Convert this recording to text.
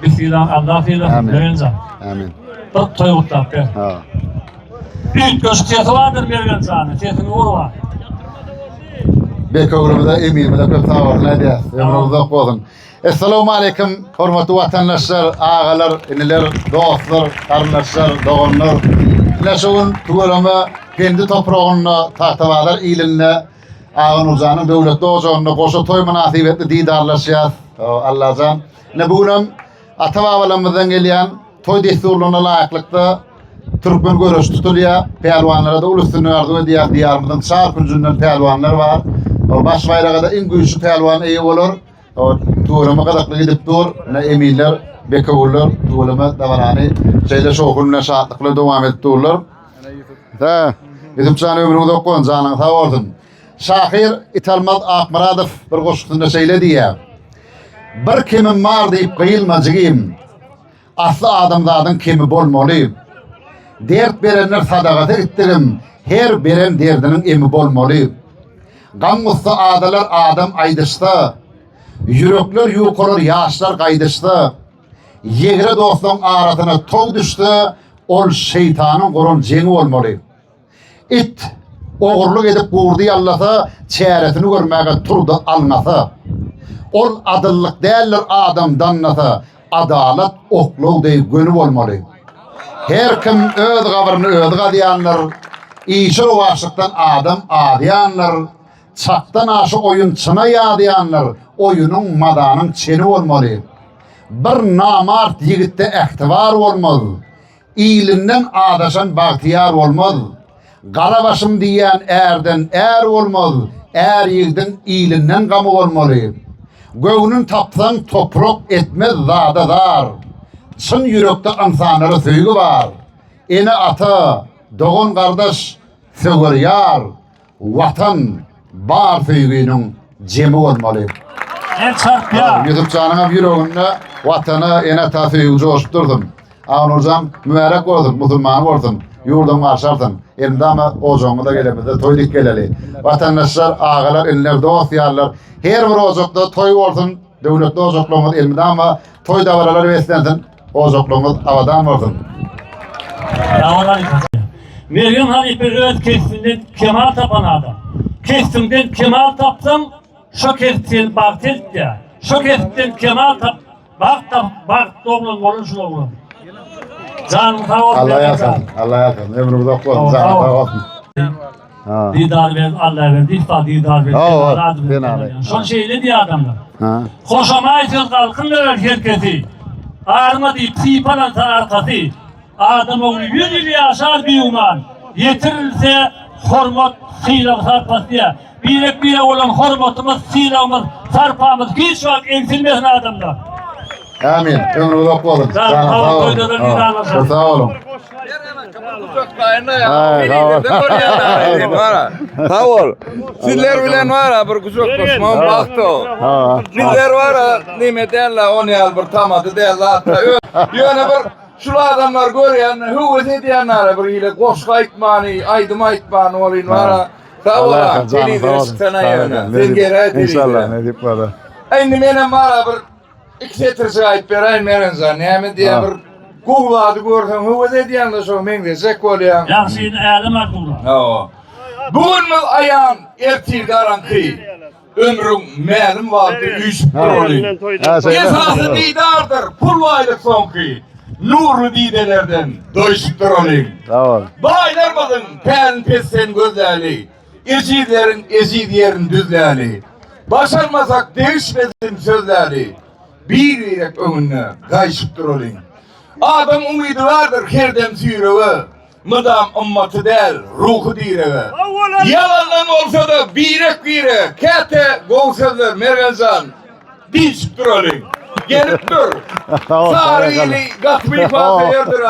Bismillah Allah filan Amin. Mergencan. Amin. Bak toy kutlap gel. Ha. Büyük köşk sesi vardır Mergencan'ın. Sesini vur var. Bekoglumda emimize köp sağ olun edýär. Ömrüň uzak bolsun. Esselamu aleyküm hormatly watandaşlar, agalar, iniler, dostlar, garyndaşlar, doganlar. Ine şu gün Tüweleme kendi topragynda Tahtabazar ilinde Aga Nurjanyň döwletli ojagynda goşa toý mynasybetli didarlaşýas. Allajan. Ne bu gün hem ata-babalarymyzdan gelýän toý dessurlaryna laýyklykda türkmen göreşi tutulýar. Pälwanlara-da uly üstünlik arzuw edýär. Diýarymyzyň çar künjünden pälwanlar bar. Baş baýraga-da iň güýçli pälwan eýe bolar. Tuweleme gyzykly gidip dur. Ne eminler, bekewüller tuweleme dabarany şeýle şowhun bilen şatlyk bilen dowam edip durlar. He. Ýusupjan ömrüň uzak bolsun, janyň sag bolsun. Şahyr Italmaz Akmyradow bir goşgusynda şeýle diýýär. Bir kemim bar diýip gyýylma jigim. Asly adamzadyň kemi bolmaly. Dert berenler sadagasy gitdigim, her beren derdiniň emi bolmaly. Gam-gussa adalar adam aýdyşsa, ýürekler ýukalar ýaşlar gaýdyşsa. Ýegre dostlaň arasyna tow düşse, ol şeýtanyň guran jeňi bolmaly. It ogurlyk edip gurdy ýallasa, çäresini görmäge turdy alňasa. Ol adyllyk däldir adam dannasa, adalat oklaw deý göni bolmaly. Her kim öz gabryny özi gazýandyr, işi rowaçlykdan adam azýandyr. Çakdan aşa oýun çyna ýazýanlar oýunyň mazanyň çeni bolmaly. Bir namart ýigitde ähtibar bolmaz. Ilinden azaşan bagtyýar bolmaz. Gara başym diýýän ärden är bolmaz, är ýigdiň ilinden gamy bolmaly. Göwnün tapsaň toprak etmez zada zar. Çyn ýürekde ynsanlara söýgi bar. Ene ata, dogan gardaş söwer ýar. Watan bar söýginiň jemi bolmaly. El çarpýa. Ýusup janyňam ýüreginde Watana, ene ata söýgi joşup dursun. Agnurjan mübärek bolsun, musulman bolsun. Ýurduňy garşy alsyn. Elmydama ojagyňyza gelemizde toý dik geleli. Watandaşlar, agalar, inler, dost ýarlar, her bir ojakda toý bolsun. Döwletli ojaklaryňyz elmydama toý dabaralar beslensin. Ojaklygyňyz abadan bolsun. Mergen halypa öz kesbinden kemal tapan adam. Kesbiňden kemal tapsaň, şo kesp seni bagt etdi. Şo kesbden kemal tap, bagt tap, bagt doglan bolun şul oglan. Janyň sag bolsun. Allah ýarsyn, Allah ýarsyn. Ömrüňiz ok bolsun, janyň sag bolsun. Didar ber Allah ber dihta didar ber Şol şeýle diýýär adamlar. Hoşamaýsyz galkyn ber her kesi. Arma diýip sypalansa arkasy. Adam ogly ýüz ýyl ýaşar biýuman. Ýetirilse hormat sylag sarpasy diýýär. Birek bire bolan hormatymyz, sylagymyz, sarpamyz hiç wagt egsilmesin adamlar. Amin. Ömrü uzak bolsun. Sağ olun. Sağ olun. Sağ olun. Sağ ol. Sizler bilen var ha bir güzel koşmam baktı o. Bizler var ha nimet elle on yal bir tamadı değil hatta. Yöne bir şu adamlar görýän, hüwes edýänler bir ile goşgy aýtmany, aýdym aýtmany bolýan var ha. Sag ol. Telewizor çykana ýöne. Sen gerek. İnşallah ne dip var. Endi menem var bir İki setircik ayıp berayim Merenza. Näme diye Ha. bir Google adı görsen höwes edýän de şoňa meňzeşek bolýan. Ýagşyny ädem aklymda. Hawa. Bugünmiz aýan, ertir garaňky. Ömrüň mälim wagty üýşüp Ha. durly. Ha, sen- Esasy didardyr, pul baýlyk soňky. Nurly didelerden doýşup durly. Sag ol. Baýlarmyzyň pälin pesden gözläli. Ejizleriň eziz ýerini düzläli, Başarmasak degişmesin sözläli, Bir-birek öňünde gaýşyp duralyň. Adam umydy bardyr her dem süýrege, Mydam ymmaty däl, ruhy direge. Ýalandan bolsa-da birek-bire, Käte gowy sözler Mergen jan, diýşip duralyň. Gelip dur. Sary ili gaty biparhe ýerdir-ä.